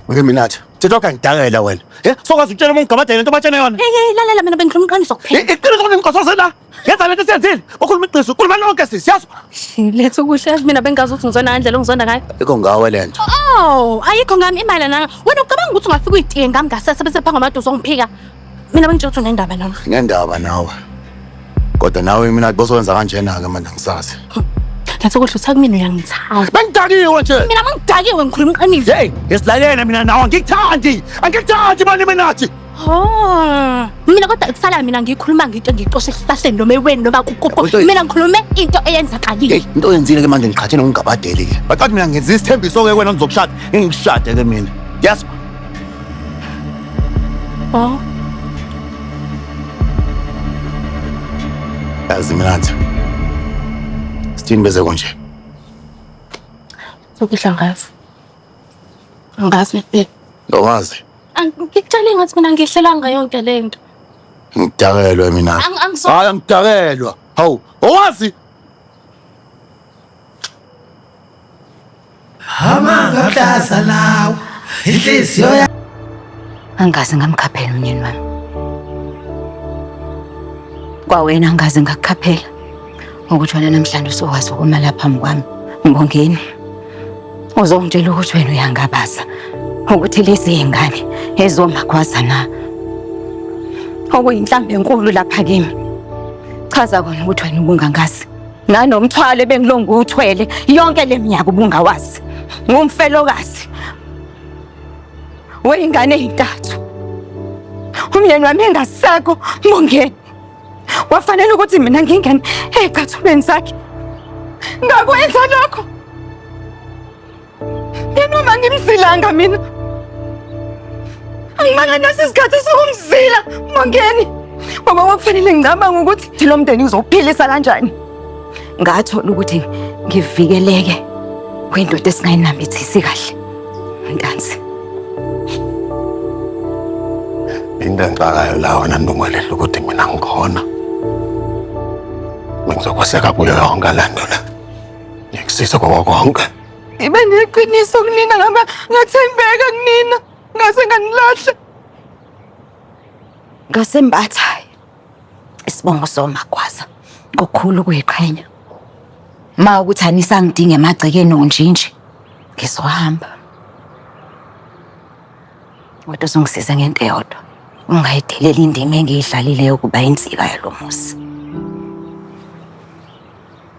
Wake Minathi, thetha kangidakela wena. Eh, sokwazi ukutshela umuntu gabadela into batshena yona. Hey, hey, lalela mina bengikhuluma iqiniso kuphela. Eh, iqiniso ukuthi ngikhosoze la. Yenza lento esiyenzile. Ukhuluma iqiniso, ukhuluma lonke sisi, yazi. Letha ukudla yazi mina bengazi ukuthi ngizona ngandlela ongizonda ngayo. Ikho ngawe lento. Oh, ayikho ngami imali nanga. Wena ucabanga ukuthi ungafika uyitiye ngami ngasese bese phanga amadosi ongiphika. Mina bengitshela ukuthi unendaba nami. Ngendaba nawe. Kodwa nawe mina bosokwenza kanjena-ke manje angisazi. Ngathi kodwa uthatha kumina uyangithanda. Bengidakiwe nje. Mina bengidakiwe ngikhuluma iqiniso. Hey, ngesilalele mina nawe angikuthandi. Angikuthandi manje mina nathi. Oh. Mina kodwa kusala mina ngikhuluma ngento ngixoshe esihlahleni noma eweni noma kukupho. Kodwa- Mina ngikhulume into eyenzakalile. Hey, into oyenzile ke manje ngiqhathene ngingabadeli-ke. Baqathi mina ngenza isithembiso-ke wena ngizokushada. Ngingikushade-ke mina. Yes. Baba. Yazi mina nje. Sithini beze konje? Sokudla ngazi. Ngazi bebe. Ngawazi. Angikutshele ngathi mina ngihlelanga yonke lento. Ngidakelwe mina. Hayi angidakelwa. Hawu, owazi amanga ahlaza lawo inhliziyo ya angazi ngamkhaphela umnyeni wami kwawena angazi ngakukhaphela ukuthi wena namhlanje usokwazi ukuma la phambi kwami mbongeni uzongitshela ukuthi wena uyangabaza ukuthi lezi yingane ezomagwaza na okuyinhlamba enkulu lapha kimi chaza kona ukuthi wena ubungangazi nanomthwalo ebengilo ngiwuthwele yonke le minyaka ubungawazi ngumfelokazi weyingane ezintathu umyeni wami engasekho mbongeni wafanele ukuthi mina ngingene ecathulweni zakhe ngakwenza lokho Ngenoma ngimzilanga mina. Angimanga nasi isikhathi sokumzila Mongeni. Ngoba kwakufanele ngicabanga ukuthi thi lo mndeni uzophilisa kanjani. Ngathola ukuthi ngivikeleke kwindoda esingayinambithisi kahle. Ntanzi. Into engixakayo la wena Ndungwelelo ukuthi mina ngikhona. Bengizokweseka kuyo yonke le nto le. Ngikusiza kwako konke. Ibe neqiniso kunina ngaba ngathembeka kunina ngase nganilahla. Ngasembatha isibongo somakwaza kukhulu kuyiqhenya. Ma ukuthi anisangidinge emagcekeni onjinje ngizohamba. Kodwa uzongisiza ngento eyodwa. Ungayideleli indima engiyidlalile yokuba insika yalo muzi.